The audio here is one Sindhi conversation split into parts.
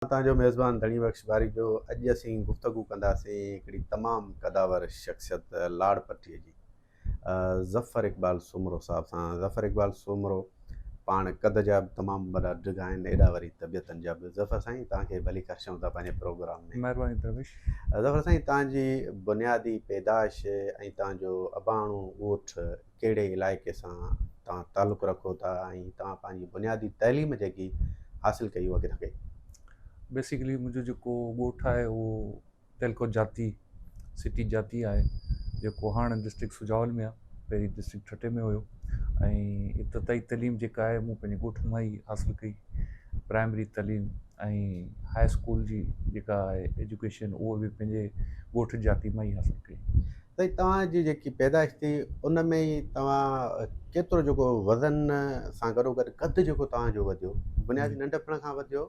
توهان جو ميزبان ڌڻي بخش باريجو اڄ اسين گفتگو ڪنداسين هڪڙي تمام قدآور شخصيت لاڙ پٽي جي ظفر اقبال سومرو صاحب سان ظفر اقبال سومرو پاڻ قد جا به تمام وڏا ڊگها آهن ايڏا وري طبيعتن جا به ظفر سائين توهان کي ڀلي ڪرشون ٿا پنهنجي پروگرام ۾ مهرباني درويش ظفر سائين توهان جي بنيادي پيدائش ۽ توهان جو اباڻو ڳوٺ ڪهڙي علائقي سان توهان تعلق رکو ٿا ۽ توهان پنهنجي بنيادي تعليم جيڪي حاصل ڪئي اها ڪٿان ڪئي؟ بيسڪلي منهنجو جيڪو ڳوٺ آهي اهو تيلڪوٽ جاتي سٽي جاتي آهي جيڪو هاڻ ڊسٽرڪٽ سجاول ۾ آهي پهرين ڊسٽرڪٽ ٺٽي ۾ هيو ۽ ابتدائي تعليم جيڪا آهي مون پنهنجي ڳوٺ مان ئي حاصل ڪئي پرائمري تعليم ۽ هاء اسڪول جي جيڪا آهي ايجوڪيشن اهو به پنهنجي ڳوٺ جاتي مان ئي حاصل ڪئي سائين توهان جي جيڪي پيدائش ٿي ان ۾ ئي توهان ڪيترو جيڪو وزن سان گڏو گڏ قد جيڪو توهان جو وڌيو بنيادي ننڍپڻ کان وڌيو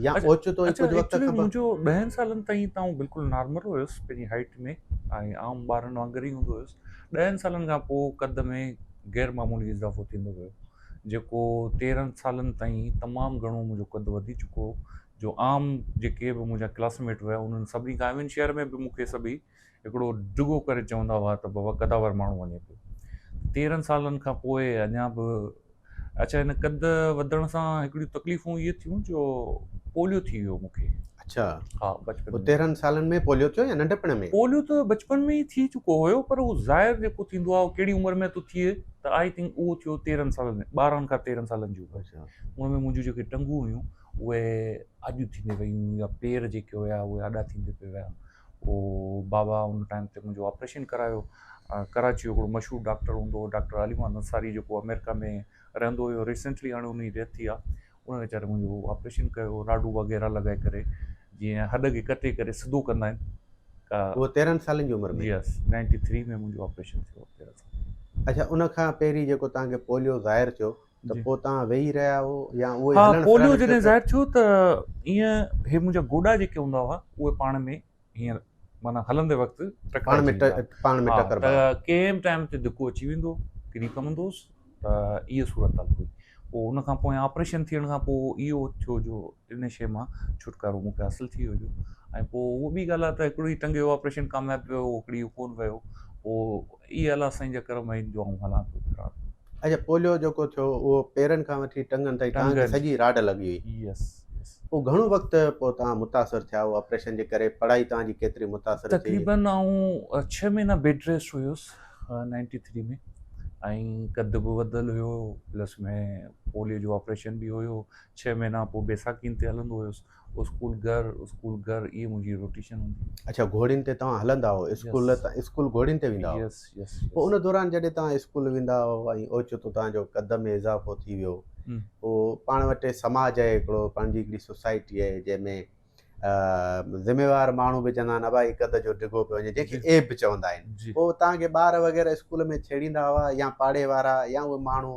يا اوچتو ئي ڪجهه وقت کان منهنجو ڏهن سالن تائين ته آئون بلڪل نارمل هيس پنهنجي هائيٽ ۾ ۽ عام ٻارن وانگر ئي هوندو هيس ڏهن سالن کان پوء قد ۾ غير معمولي اضافو ٿيندو ويو جيڪو تيرهن سالن تائين تمام گهڻو منهنجو قد وڌي چڪو هو جو عام جيڪي به منهنجا ڪلاسميٽ هيا انهن سڀني کان ايون شهر ۾ به مون کي سڀئي هڪڙو ڊگهو ڪري چوندا هئا ته بابا قداور ماڻهو وڃي پيو. تيرهن سالن کان پوء اڃا به اڇا هن قد وڌڻ سان هڪڙيون تڪليفون اهي ٿيون جو پوليو ٿي ويو مون کي. اڇا ها بچپن پوء ۾ تيرهن سالن ۾ پوليو ٿيو يا ننڍپڻ ۾؟ پوليو ته بچپن ۾ ئي ٿي چڪو هيو پر اهو ظاهر جيڪو ٿيندو آهي اهو ڪهڙي عمر ۾ ٿو ٿئي ته آئي ٿنڪ اهو ٿيو تيرهن سالن ۾ ٻارهن کان تيرهن سالن جي عمر اڇا ان ۾ منهنجون جيڪي ٽنگون هيون اهي آڏيون ٿيندي ويون يا پير جيڪي هيا اهي آڏا ٿيندي پئي ويا. او بابا ان ٽائيم تي منهنجو آپريشن ڪرايو ڪراچي جو هڪڙو مشهور ڊاڪٽر هوندو هو ڊاڪٽر علي محمد انصاري جيڪو آمريڪا ۾ رهندو هيو ريسينٽلي هاڻي ان جي ڊيٿ ٿي آ ان ويچاري منهنجو آپريشن ڪيو راڊو وغيره لڳائي ڪري جيئن هڏ کي ڪٽي ڪري سڌو ڪندا آهن اهو تيرهن سالن جي عمر ۾ جي يس نائنٽي ٿري ۾ منهنجو آپريشن ٿيو تيرهن سال اڇا ان کان پهرين جيڪو توهان کي پوليو ظاهر ٿيو ته پوء توهان ويهي رهيا هئو يا اهو ئي هلڻ ڦرڻ. پوليو جڏهن ظاهر ٿيو ته ايئن هي منهنجا گوڏا جيڪي هوندا هئا اهي پاڻ ۾ هيئن معنيٰ هلندي وقت ٽڪرائجي ويندا هئا. پاڻ ۾ ٽڪربا هئا. ته ڪنهن به ٽائيم تي ڌڪو اچي ويندو هو، ڪري پوندو هوس ته اهي صورتحال هئي. پوء ان کان پويان آپريشن ٿيڻ کان پوء اهو ٿيو جو ان شيء مان ڇوٽڪارو مون کي حاصل ٿي ويو جو ۽ پوء اهو ٻي ڳالهه آهي ته هڪڙو هي ٽنگ جو آپريشن ڪامياب ويو هڪڙي اهو ڪونه ويو پوء اي الله سائين جا ڪرم آهن جو آئون هلان ٿو ڦران ٿو. اچا پوليو جيڪو ٿيو اهو پيرن کان وٺي ٽنگن تائين تنگن. توهان کي سڄي راڊ لڳي هئي. Yes yes. پوء گهڻو وقت پوء توهان متاثر ٿيا اهو آپريشن جي ڪري پڙهائي توهان جي ڪيتري متاثر ٿي. تقريباً آئون ڇهه مهينا بيڊ ريسٽ هيس نائنٽي ٿري ۾ ۽ قد به وڌل هيو پلس ۾ پوليو جو آپريشن به هيو ڇهه مهينا پوء بيساکين تي هلندو هيس. اسڪول گهر اسڪول گهر اهي منهنجي روٽيشن هوندي هئي. اڇا گهوڙين تي توهان هلندا هئو اسڪول ته اسڪول گهوڙين تي ويندا هئو پوء ان دوران جڏهن توهان اسڪول ويندا هئو ۽ اوچتو توهان جو قد ۾ اضافو ٿي ويو پوء پاڻ وٽ سماج آهي هڪڙو پنهنجي هڪڙي سوسائٽي آهي جنهن ۾ ذميوار ماڻهو به چوندا آهن ابا هي قد جو ڊگهو پيو وڃي جنهن کي ايب به چوندا آهن پوء توهان کي ٻار وغيره اسڪول ۾ ڇيڙيندا هئا يا پاڙي وارا يا اهي ماڻهو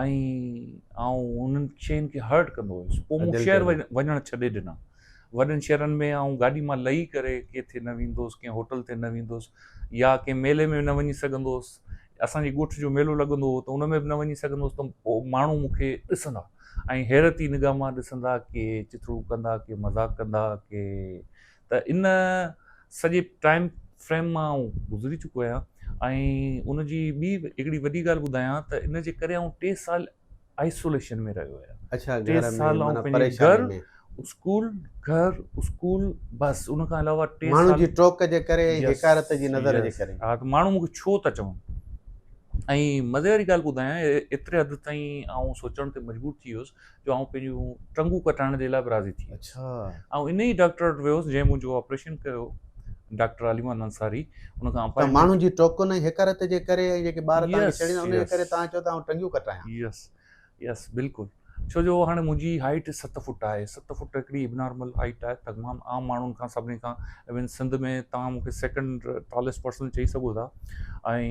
۽ آئون انهن شين کي هرٽ ڪندو هيس پوء مون شهر وڃڻ ڇڏي ڏنا وڏن شهرن ۾ آئون گاڏي مان لهي ڪري ڪيٿي نه ويندو هوس ڪنهن هوٽل تي نه ويندو هوس يا ڪنهن ميلي ۾ نه وڃي سگهندو هوس اسان جي ڳوٺ جو ميلو لڳندو هو ته ان ۾ به نه وڃي سگهندو هوس ته پوء ماڻهو مون کي ڏسندا ۽ حيرت جي نگاهه مان ڏسندا ڪي چٿڙو ڪندا ڪي مذاق ڪندا ڪي ته ان سڄي ٽائيم فريم مان آئون گذري چڪو آهيان ۽ ان جي ٻي هڪڙي وڏي ڳالهه ٻڌايان ته ان جي ڪري آئون ٽي سال آئسوليشن ۾ رهيو آهيان ٽي سال آئون پنهنجي گهر اسڪول گهر اسڪول بس ان کان علاوه ٽي سال ماڻهو جي ٽوڪ جي ڪري ۽ حقارت جي نظر جي ڪري ها ته ماڻهو مون کي ڇو ٿا چون ۽ مزي واري ڳالهه ٻڌايان ايتري حد تائين آئون سوچڻ تي مجبور ٿي ويس جو آئون پنهنجون ٽنگون ڪٽائڻ جي لاء به راضي ٿي ويس آئون ان ئي ڊاڪٽر وٽ ويس جنهن منهنجو آپريشن ڪيو ڊاڪٽر علي محمد انصاري ان کان پر ماڻهن جي ٽوڪن ۽ حقارت جي ڪري ۽ جيڪي ٻار تان ڇڙين ان جي ڪري تان چيو ته آئون ٽنگيون ڪٽايان يس يس بلڪل ڇو جو هاڻي منهنجي هائيٽ ست فٽ آهي ست فٽ هڪڙي اب نارمل هائيٽ آهي تمام عام ماڻهن کان سڀني کان ايون سنڌ ۾ تان مون کي سيڪنڊ ٽاليسٽ پرسن چئي سگهو ٿا ۽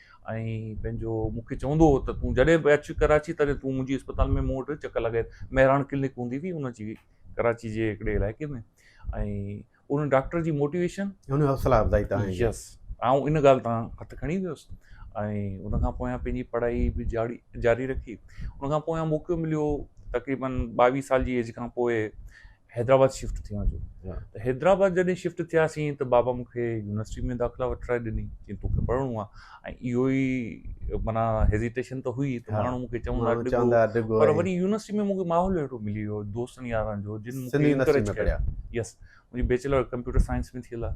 ۽ پنهنجو مون کي چوندو هو ته تون جڏهن به اچ ڪراچي تڏهن تون منهنجي اسپتال ۾ مون وٽ چڪر لڳائي مهراڻ ڪلنڪ هوندي هئي ان جي ڪراچي جي هڪڙي علائقي ۾ ۽ ان ڊاڪٽر جي موٽيويشن ان حوصلا افزائي تان يس آئون ان ڳالهه تان هٿ کڻي ويس ۽ ان کان پويان پنهنجي پڙهائي به جاري جاري رکي ان کان پويان موقعو مليو تقريبن ٻاويهه سال جي ايج کان پوء حيدرآباد شفٽ ٿيا جو ته حيدرآباد جڏهن شفٽ ٿياسين ته بابا مون کي يونيورسٽي ۾ داخلا وٺرائي ڏني چيائين توکي پڙهڻو آهي ۽ اهو ئي مانا هيزيٽيشن ته هئي ته ماڻهو مون کي چوندا چوندا ڊگهو پر وري يونيورسٽي ۾ مون کي ماحول اهڙو ملي ويو دوستن يارن جو جن مون کي انڪريج ڪيو يس منهنجي بيچلر ڪمپيوٽر سائنس ۾ ٿيل آهي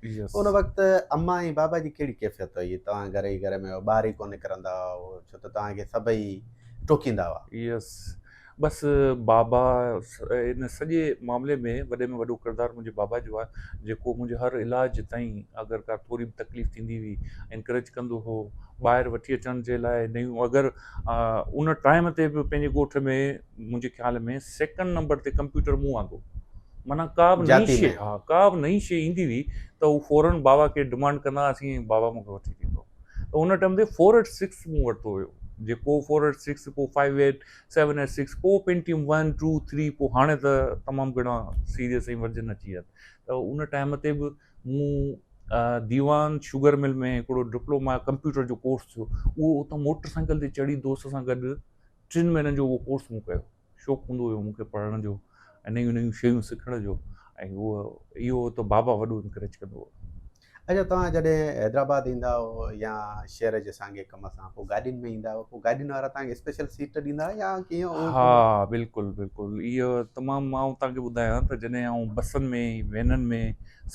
ان وقت امان ۽ بابا جي ڪهڙي ڪيفيت هئي؟ توهان گهر ئي گهر ۾ هئو، ٻاهر ئي ڪو نڪرندا هئو، ڇو ته توهان کي سڀئي ٽوڪيندا هئا. يس بس بابا ان سڄي معاملي ۾ وڏي ۾ وڏو ڪردار منهنجي بابا جو آهي جيڪو منهنجي هر علاج تائين اگر ڪا ٿوري به تڪليف ٿيندي هئي انڪريج ڪندو هو ٻاهر وٺي اچڻ جي لاء نيون اگر ان ٽائيم تي به پنهنجي ڳوٺ ۾ منهنجي خيال ۾ سيڪنڊ نمبر تي ڪمپيوٽر مون آندو معنيٰ ڪا به نئين شيء ها ڪا به نئين شيء ايندي هئي ته هو فورن بابا کي ڊمانڊ ڪندا هئاسين ۽ بابا مون کي وٺي ڏيندو ته ان ٽائيم تي فور ايٽ سڪس مون ورتو هيو جيڪو فور ايٽ سڪس پوء five eight seven eight six پوء پينٽيم ون ٽو ٿري پوء هاڻي ته تمام گهڻا سيريس ۽ ورجن اچي ويا آهن ته ان ٽائيم تي به مون ديوان شوگر مل ۾ هڪڙو ڊپلوما ڪمپيوٽر جو ڪورس ٿيو اهو اتان موٽر سائيڪل تي چڙهي دوست سان گڏ ٽن مهينن جو اهو ڪورس مون ڪيو شوق هوندو هيو مون کي پڙهڻ جو ۽ نيون نيون شيون سکڻ جو ۽ اهو اهو ته بابا وڏو انڪريج ڪندو هو اچا توهان جڏهن حيدرآباد ايندا هو يا شهر جي سانگي ڪم سان پوء گاڏين ۾ ايندا هو پوء گاڏين وارا توهان کي اسپيشل سيٽ ڏيندا هئا يا ڪيئن ها بلڪل بلڪل اهو تمام مان توهان کي ٻڌايان ته جڏهن آئون بسن ۾ وينن ۾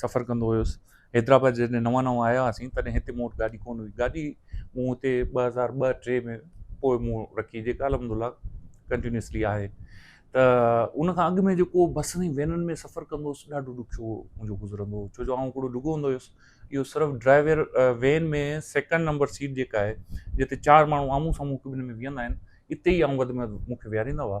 سفر ڪندو هيس حيدرآباد جڏهن نوان نوان آيا هئاسين تڏهن هتي مون وٽ گاڏي ڪونه هئي گاڏي مون هتي ٻه هزار ٻه ٽي ۾ پوء مون رکي جيڪا الحمد الله ڪنٽينيوسلي آهي ته ان کان اڳ ۾ جيڪو بسن ۽ وينن ۾ سفر ڪندو هوس ڏاڍو ڏکيو منهنجو گذرندو هو ڇو جو آئون هڪڙو ڊگهو هوندو هيس اهو صرف driver van ۾ second number seat جيڪا آهي جتي چار ماڻهو آمهون سامهون هڪ ٻن ۾ ويهندا آهن اتي ئي آئون وڌ ۾ وڌ مون کي ويهاريندا هئا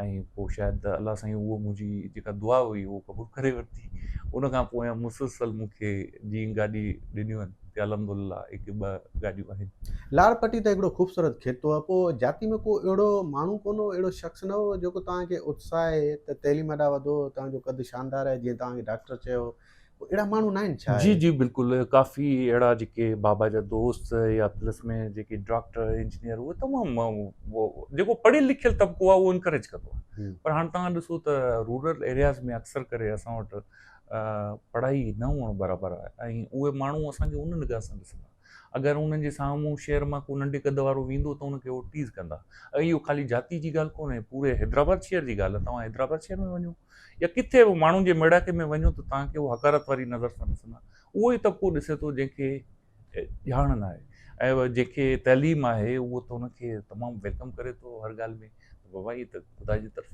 ۽ پوء شايد الله سائين اهو منهنجي جيڪا دعا هئي اهو قبول ڪري ورتي ان کان پوء مسلسل مون کي جي گاڏي ڏنيون آهن تي الحمد لله هڪ ٻه گاڏيون آهن لاڙ پٽي ته هڪڙو خوبصورت خطو هو پوء جاتي ۾ ڪو اهڙو ماڻهو ڪونه هو اهڙو شخص نه هو جيڪو توهان کي اتساهي ته تعليم ڏانهن وڌو توهان جو قد شاندار آهي جيئن توهان کي ڊاڪٽر چيو اهڙا ماڻهو ناهن ڇا؟ جي جي بلڪل ڪافي اهڙا جيڪي بابا جا دوست يا پلس ۾ جيڪي ڊاڪٽر انجنيئر اهي تمام جيڪو پڙهيل لکيل طبقو آهي اهو انڪريج ڪندو آهي پر هاڻ توهان ڏسو ته رورل ايرياز ۾ اڪثر ڪري اسان وٽ پڙهائي نه هئڻ برابر آهي ۽ اهي ماڻهو اسان کي ان نگاهه سان ڏسندا اگر انهن جي سامهون شهر مان ڪو ننڍي قد وارو ويندو ته ان کي هو ٽيز ڪندا. اهو خالي جاتي جي ڳالهه ڪونهي، پوري حيدرآباد شهر جي ڳالهه آهي. توهان حيدرآباد شهر ۾ وڃو يا ڪٿي به ماڻهن جي ميڙاڪي ۾ وڃو ته توهان کي هو حقارت واري نظر سان ڏسندا. اهو ئي طبقو ڏسي ٿو جنهن کي ڄاڻ ناهي ۽ جنهن کي تعليم آهي اهو ته ان کي تمام ويلڪم ڪري ٿو هر ڳالهه ۾ ته بابا هي ته خدا جي طرفان